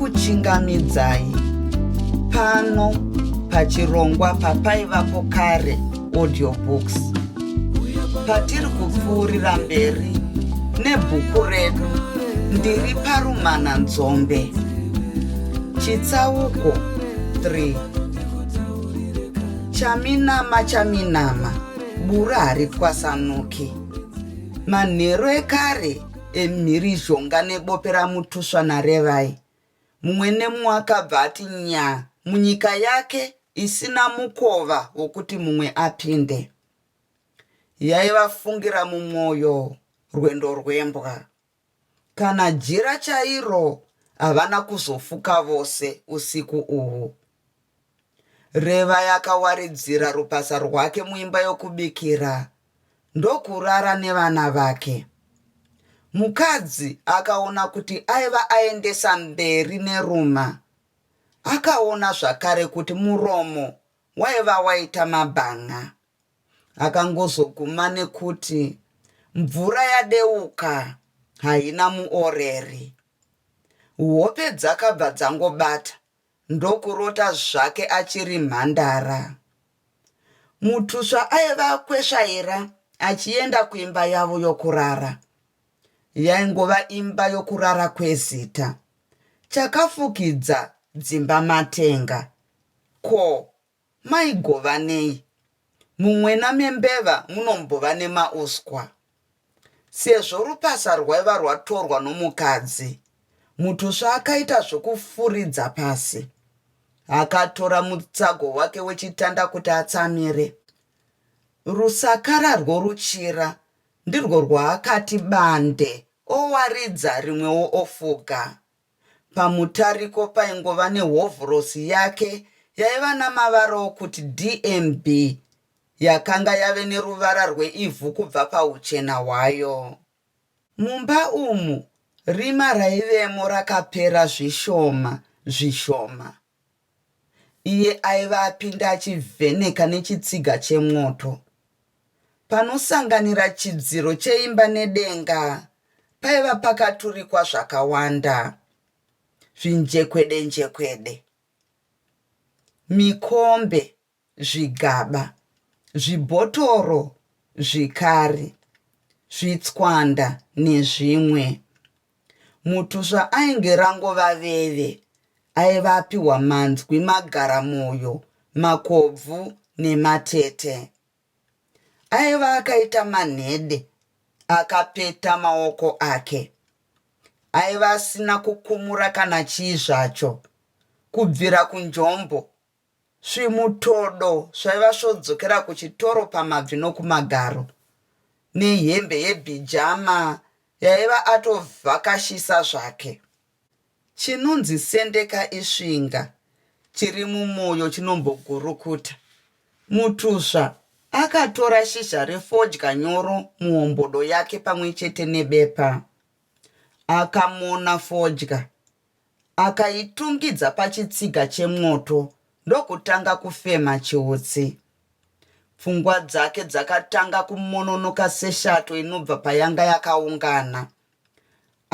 ndinokuchingamidzai pano pachirongwa papaivapo kare audiobooks patiri kupfuurira mberi nebhuku redu ndiri parumana nzombe chitsauko 3 chaminama chaminama Bura haritwasanuki. Manheru ekare emhirizhonga nebope raMutuswa naRevai, mumwe nemumwe akabva ati nyaa munyika yake isina mukova wokuti mumwe apinde. Yaivafungira mumwoyo rwendo rwembwa. Kana jira chairo havana kuzofuka vose usiku uhu. Revai akawaridzira rupasa rwake muimba yokubikira ndokurara nevana vake. Mukadzi akaona kuti aiva aendesa mberi neruma. Akaona zvakare kuti muromo waiva waita mabhan'a. akangozoguma nekuti mvura yadeuka haina muoreri. Hope dzakabva dzangobata ndokurota zvake achiri mhandara. Mutusva aiva kwesvaira achienda kuimba yavo yokurara. Yaingova imba yokurara kwezita. Chakafukidza dzimba matenga. Ko Mai Govanei, mumwena membeva munombova nemauswa. Sezvo rupasa rwaiva rwatorwa nomukadzi, Mutusva akaita zvokufuridza pasi. Akatora mutsago wake wechitanda kuti atsamire. Rusakara rworuchira ndirwo rwaakati bande, owaridza rimwewo ofuga. Pamutariko paingova nehovhorosi yake yaiva namavara okuti DMB yakanga yave neruvara rweivhu kubva pauchena hwayo. Mumba umu rima raivemo rakapera zvishoma zvishoma. Iye aiva apinda achivheneka nechitsiga chemwoto. Panosanganira chidziro cheimba nedenga paiva pakaturikwa zvakawanda. Zvinjekwedenjekwede. Mikombe zvigaba, zvibhotoro, zvikari, zvitswanda nezvimwe. Mutusva ainge rangova veve aiva apiwa manzwi magaramoyo, makobvu nematete. Aiva akaita manhede akapeta maoko ake. Aiva asina kukumura kana chii zvacho, kubvira kunjombo Zvimutodo zvaiva svodzokera kuchitoro pamabvi nokumagaro, nehembe yebhijama yaiva atovhakashisa zvake. Chinonzi sendeka isvinga, chiri mumoyo chinombogurukuta. Mutuzva akatora shizha refodya nyoro muhombodo yake pamwe chete nebepa. Akamona fodya Akaitungidza pachitsiga chemwoto ndokutanga kufema chiutsi. Pfungwa dzake dzakatanga kumononoka seshato inobva payanga yakaungana.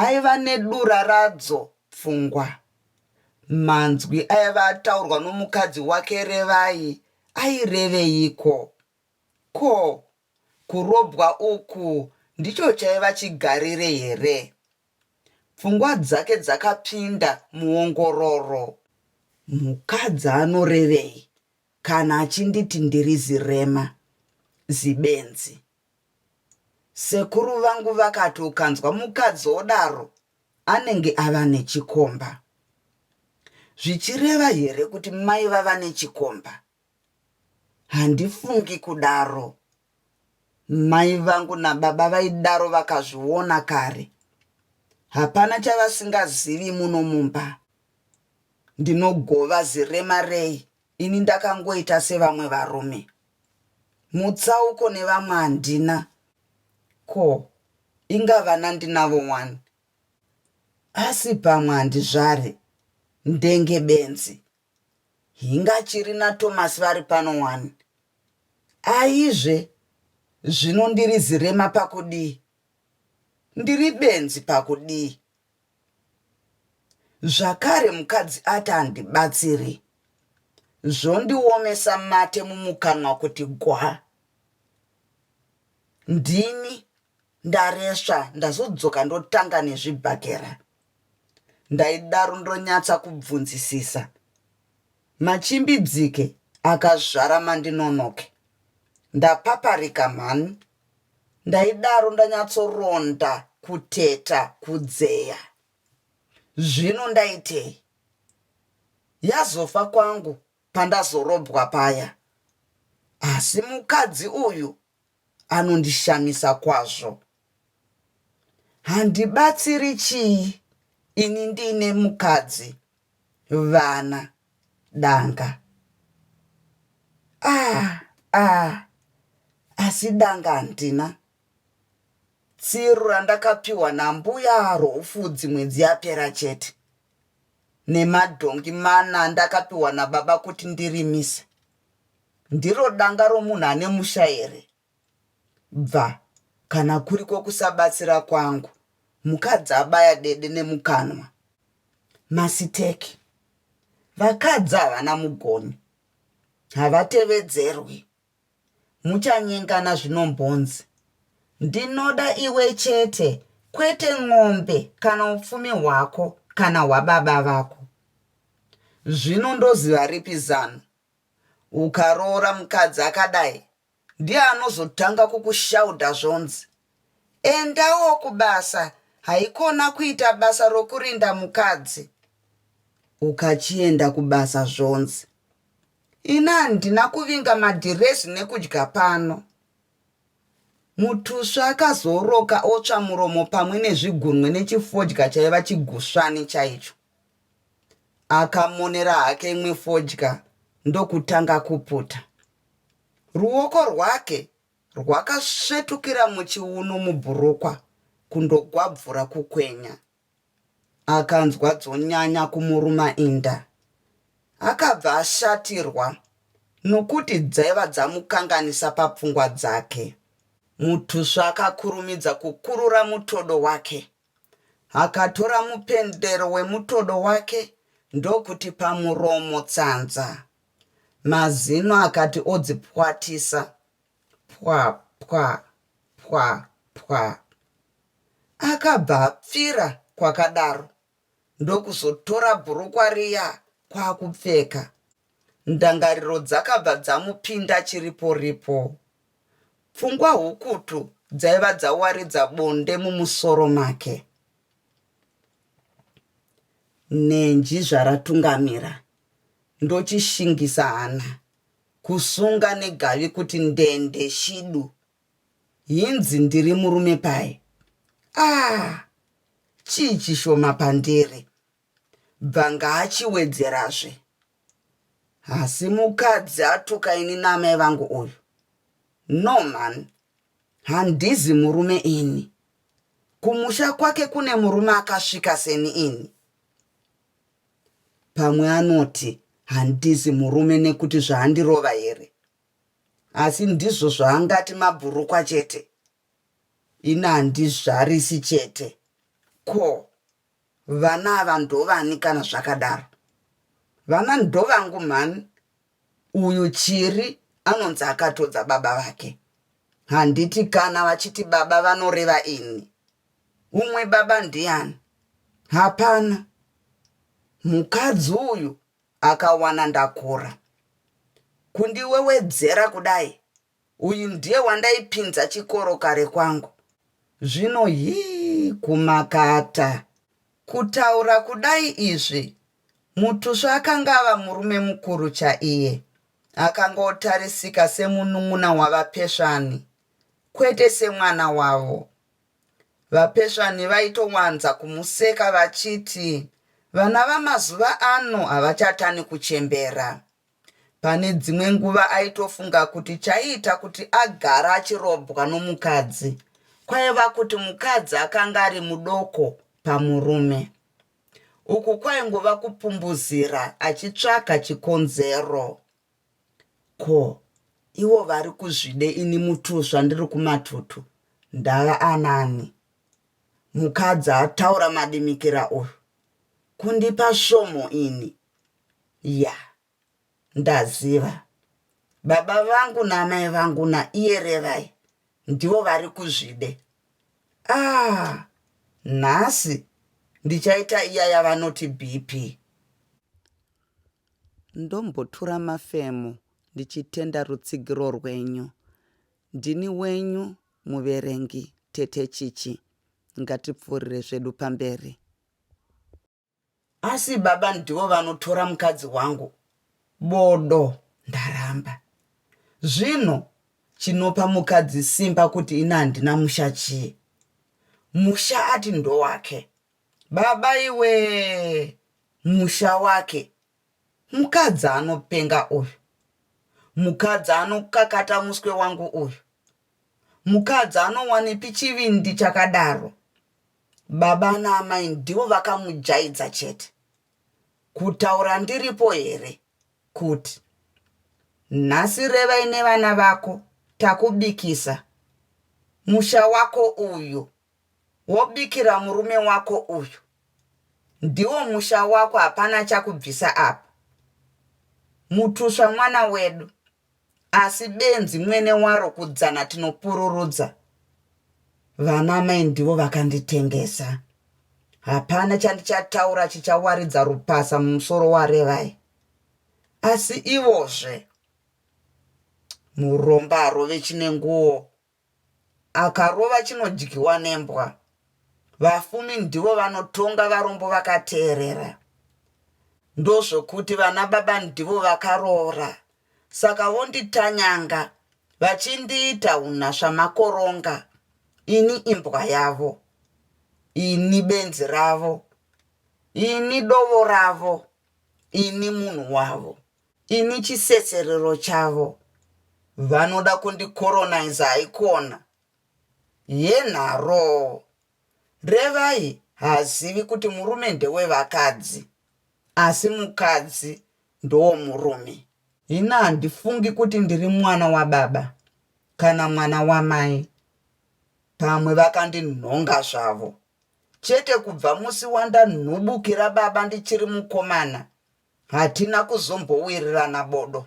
Aiva nedura radzo pfungwa. Manzwi aiva ataurwa nomukadzi wake Revai aireveiko? Ko, kurobwa uku ndicho chaiva chigarire here? Pfungwa dzake dzakapinda muongororo. Mukadzi anorevei kana achinditi ndiri zirema, zibenzi? Sekuru vangu vakati ukanzwa mukadzi odaro anenge ava nechikomba. Zvichireva here kuti mai vava nechikomba? Handifungi kudaro. Mai vangu nababa vaidaro vakazviona kare. Hapana chavasingazivi muno mumba. Ndinogova zirema rei ini ndakangoita sevamwe varume. Mutsauko nevamwe handina. Ko, inga vana ndinavo wani. Asi pamwe handizvare, ndenge benzi. Hinga chiri na Thomas vari pano wani. Aizve zvino ndiri zirema pakudii? Ndiri benzi pakudii? Zvakare mukadzi ati handibatsiri zvondiomesa mate mumukanwa kuti gwa. Ndini Ndaresva ndazodzoka ndotanga nezvibhakera ndaidaro ndonyatsa kubvunzisisa machimbidzike akazvara mandinonoke ndapaparika mhani ndaidaro ndanyatsoronda kuteta kudzeya zvino ndaitei yazofa kwangu pandazorobwa paya asi mukadzi uyu anondishamisa kwazvo. Handibatsiri chii ini ndiine mukadzi, vana, danga. Ah, ah, asi danga handina. Tsiru randakapiwa nambuya roufudzi mwedzi yapera chete nemadhongi mana ndakapiwa nababa kuti ndirimise ndiro danga romunhu ane musha here? Bva, kana kuri kwokusabatsira kwangu, mukadzi abaya dede nemukanwa. Masiteki. Vakadzi havana mugoni. Havatevedzerwi. Muchanyengana zvinombonzi. Ndinoda iwe chete, kwete n'ombe kana upfumi hwako kana hwababa vako. Zvino ndoziva ripi zano? Ukaroora mukadzi akadai ndiye anozotanga kukushaudha zvonzi, Endawo kubasa, haikona kuita basa rokurinda mukadzi. Ukachienda kubasa zvonzi, Ini handina kuvinga madhirezi nekudya pano. Mutusvi akazooroka otsva muromo pamwe nezvigunwe nechifodya chaiva chigusvani chaicho. Akamonera hake imwe fodya ndokutanga kuputa. Ruoko rwake rwakasvetukira muchiuno mubhurukwa kundogwabvura kukwenya. Akanzwa dzonyanya kumuruma inda. Akabva ashatirwa nokuti dzaiva dzamukanganisa papfungwa dzake. Mutusva akakurumidza kukurura mutodo wake Akatora mupendero wemutodo wake ndokuti pamuromo tsanza. Mazino akati odzipwatisa. Pwa pwa pwa pwa. Akabva apfira kwakadaro ndokuzotora bhurukwa riya kwakupfeka. Ndangariro dzakabva dzamupinda chiripo ripo. Pfungwa hukutu dzaiva dzawaridza bonde mumusoro make. Nenji zvaratungamira ndochishingisa hana kusunga negavi kuti ndende shidu. Hinzi ndiri murume paye. Aah chii chishoma pandiri Bvanga achiwedzerazve Hasi mukadzi atuka ini naamai vangu uyu No man handizi murume ini Kumusha kwake kune murume akasvika seni ini Pamwe anoti handizi murume nekuti zvaandirova here Asi ndizvo zvaangati mabhurukwa chete Ini handizvarisi chete Ko Vana ava ndovani kana zvakadaro. Vana ndovangu mhani uyu Chiri anonzi akatodza baba vake. Handiti kana vachiti baba vanoreva ini. Umwe baba ndiani? Hapana. Mukadzi uyu akawana ndakura. Kundiwewedzera kudai Uyu ndiye wandaipinza chikoro kare kwangu. Zvino hii kumakata. Kutaura kudai izvi. Mutusva akanga ava murume mukuru chaiye. Akanga otarisika semunun'una wavapesvani kwete semwana wavo. Vapesvani vaitowanza kumuseka vachiti vana vamazuva ano havachatani kuchembera. Pane dzimwe nguva aitofunga kuti chaiita kuti agara achirobwa nomukadzi kwaiva kuti mukadzi akanga ari mudoko pamurume. Uku kwaingova kupumbuzira achitsvaga chikonzero. Ko, ivo vari kuzvide ini mutusva ndiri kumatutu ndava anani? Mukadzi ataura madimikira uyu. Kundipa svomo ini. ya ndaziva baba vangu naamai vangu naiyerevai ndivo vari kuzvide ah nhasi ndichaita iya yavanoti bp ndombotura mafemo ndichitenda rutsigiro rwenyu ndini wenyu muverengi tete chichi ngatipfuurire zvedu pamberi Asi baba ndivo vanotora mukadzi wangu bodo ndaramba. Zvinhu chinopa mukadzi simba kuti ini handina musha chii. Musha ati ndowake. Baba iwee musha wake Mukadzi anopenga uyu. Mukadzi anokakata muswe wangu uyu. Mukadzi anowanipi chivindi chakadaro. Baba naamai ndivo vakamujaidza chete. Kutaura ndiripo here kuti nhasi Revai nevana vako takubikisa musha wako uyu wobikira murume wako uyu ndiwo musha wako hapana chakubvisa apa mutusva mwana wedu asi benzi mwene waro kudzana tinopururudza vana mai ndivo vakanditengesa hapana chandichataura chichawaridza rupasa mumusoro warevai asi ivozve muromba arove chine nguo Akarova chinodyiwa nembwa. Vafumi ndivo vanotonga varombo vakateerera. Ndozvokuti vana baba ndivo vakaroora saka vonditanyanga vachindiita hunasva makoronga ini imbwa yavo ini benzi ravo ini dovo ravo ini munhu wavo. Ini chisetserero chavo vanoda kundicolonizer haikona yenharoo Revai haazivi kuti murume ndewevakadzi asi mukadzi ndowomurume. Ini handifungi kuti ndiri mwana wababa kana mwana wamai pamwe vakandinhonga zvavo chete kubva musi wandanhubukira baba ndichiri mukomana Hatina kuzombowirirana bodo.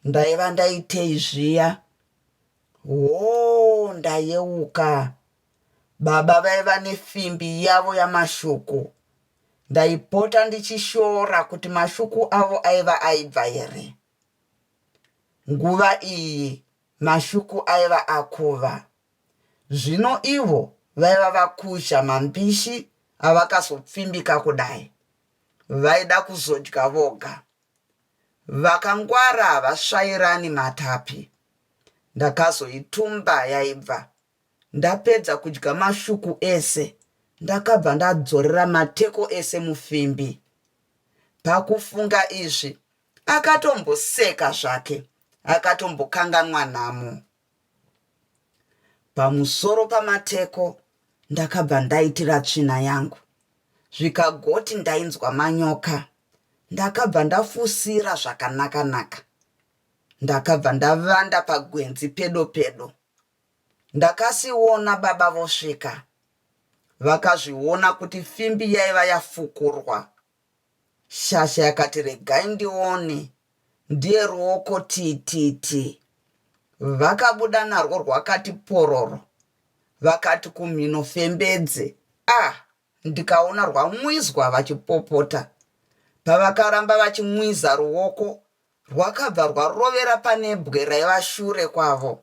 Ndaiva ndaitei zviya? Hoo, ndayeuka. Baba vaiva nefimbi yavo yamashuku. Ndaipota ndichishora kuti mashuku avo aiva aibva here. Nguva iyi mashuku aiva akuva. Zvino ivo vaiva vakuzha mambishi avakazopfimbika kudai. vaida kuzodya voga vakangwara havasvairani matapi ndakazoitumba yaibva ndapedza kudya mashuku ese ndakabva ndadzorera mateko ese mufimbi pakufunga izvi akatomboseka zvake akatombokanganwa nhamo Pamusoro pamateko ndakabva ndaitira tsvina yangu zvikagoti ndainzwa manyoka ndakabva ndafusira zvakanaka naka ndakabva ndavanda pagwenzi pedo pedo ndakasiona baba vosvika vakazviona kuti fimbi yaiva yafukurwa Shasha yakati regai ndione ndiye ruoko tititi vakabuda narwo rwakati pororo vakati kumhino fembedze ah ndikaona rwamwizwa vachipopota pavakaramba vachimwiza ruoko rwakabva rwarovera pane bwe raiva shure kwavo.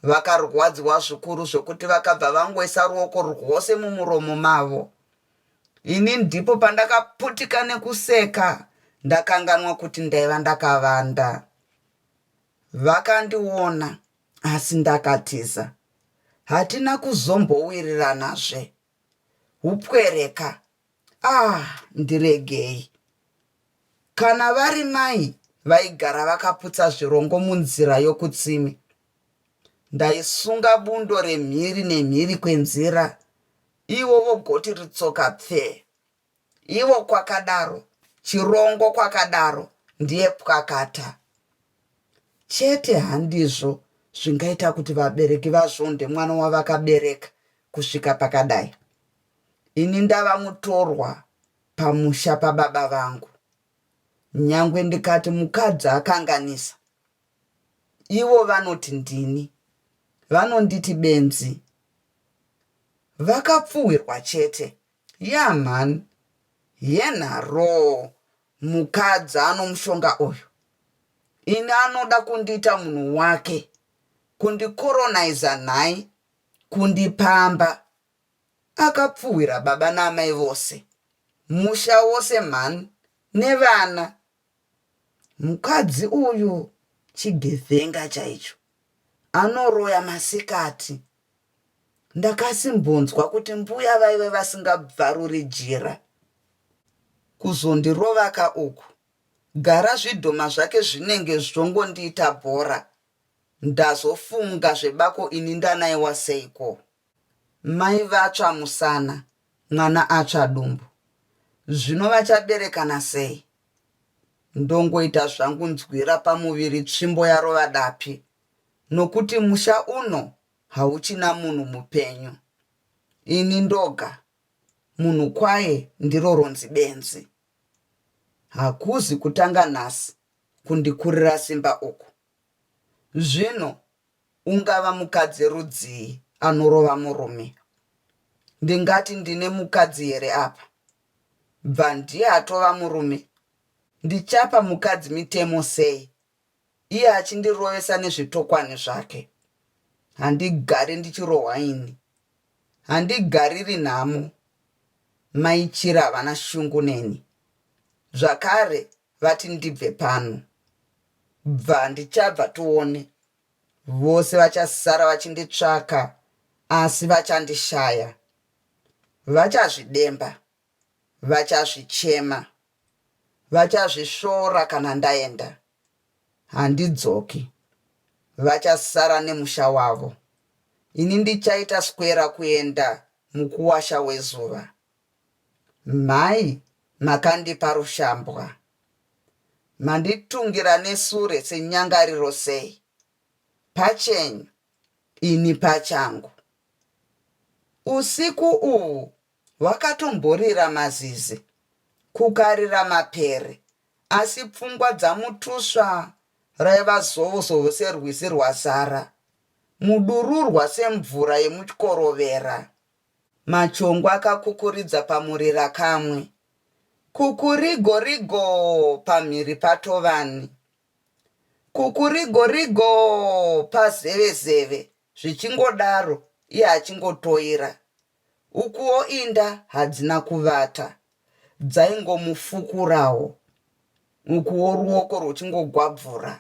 Vakarwadziwa zvikuru zvekuti vakabva vangoisa ruoko rwose mumuromo mavo. Ini ndipo pandakaputika nekuseka ndakanganwa kuti ndaiva ndakavanda. Vakandiona asi ndakatiza. Hatina kuzombowiriranazve. hupwere ka aah ndiregei kana vari mai vaigara vakaputsa zvirongo munzira yokutsime ndaisunga bundo remhiri nemhiri kwenzira ivo vogoti ritsoka pfee Ivo kwakadaro chirongo kwakadaro ndiye pwakata chete handizvo zvingaita kuti vabereki vazvonde mwana wavakabereka kusvika pakadai ini ndava mutorwa pamusha pababa vangu nyangwe ndikati mukadzi akanganisa ivo vanoti ndini vanonditi benzi vakapfuhwirwa chete Yaa mhani yenharoo mukadzi anomushonga uyu ini anoda kundiita munhu wake kundikoronizer nhai kundipamba akapfuhwira baba naamai vose musha wose mhani nevana Mukadzi uyu chigevenga chaicho anoroya masikati ndakasimbonzwa kuti mbuya vaive vasingabvaruri jira kuzondirovaka uku gara zvidhoma zvake zvinenge zvongondiita bhora ndazofunga zvebako ini ndanaiwa seiko Mai vatsva musana, mwana atsva dumbu. Zvino vachaberekana sei? Ndongoita zvangu nzwira pamuviri tsvimbo yarova dapi nokuti musha uno hauchina munhu mupenyu. Ini ndoga, munhu kwaye ndiro ronzi benzi. Hakuzi kutanga nhasi kundikurira simba uku. Zvino ungava mukadzi rudzii anorova murume? Ndingati ndine mukadzi here apa? Bva ndiye atova murume? Ndichapa mukadzi mitemo sei iye achindirovesa nezvitokwani zvake? Handigare ndichirohwa ini. Handigariri nhamo. Mai Chira havana shungu neni. Zvakare vati ndibve pano. Bva ndichabva tione. Vose vachasara vachinditsvaka asi vachandishaya. Vachazvidemba. Vachazvichema. Vachazvisvora kana ndaenda. Handidzoki. Vachasara nemusha wavo. Ini ndichaita skwera kuenda mukuwasha wezuva. Mhai makandipa rushambwa. Manditungira nesure senyangariro sei? Pachenyu, ini pachangu. Usiku uhu hwakatomborira mazizi, kukarira mapere, asi pfungwa dzaMutusva raiva zovozovo serwizi rwazara, mudururwa semvura yemuchikorovera. Machongwe akakukuridza pamurira kamwe. Kukurigorigoo pamhiri paTovani. Kukurigorigoo pazevezeve zvichingodaro iye achingotoira. Ukuwo inda hadzina kuvata, dzaingomufukurawo ukuwo ruoko rwuchingogwabvura.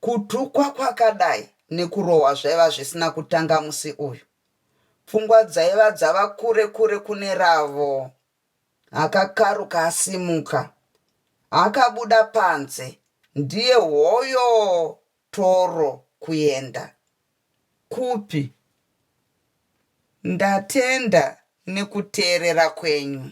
Kutukwa kwakadai nekurohwa zvaiva zvisina kutanga musi uyu. Pfungwa dzaiva dzava kure kure kune ravo. Akakaruka asimuka. Akabuda panze. Ndiye hoyo Toro kuenda. Kupi? Ndatenda nekuteerera kwenyu.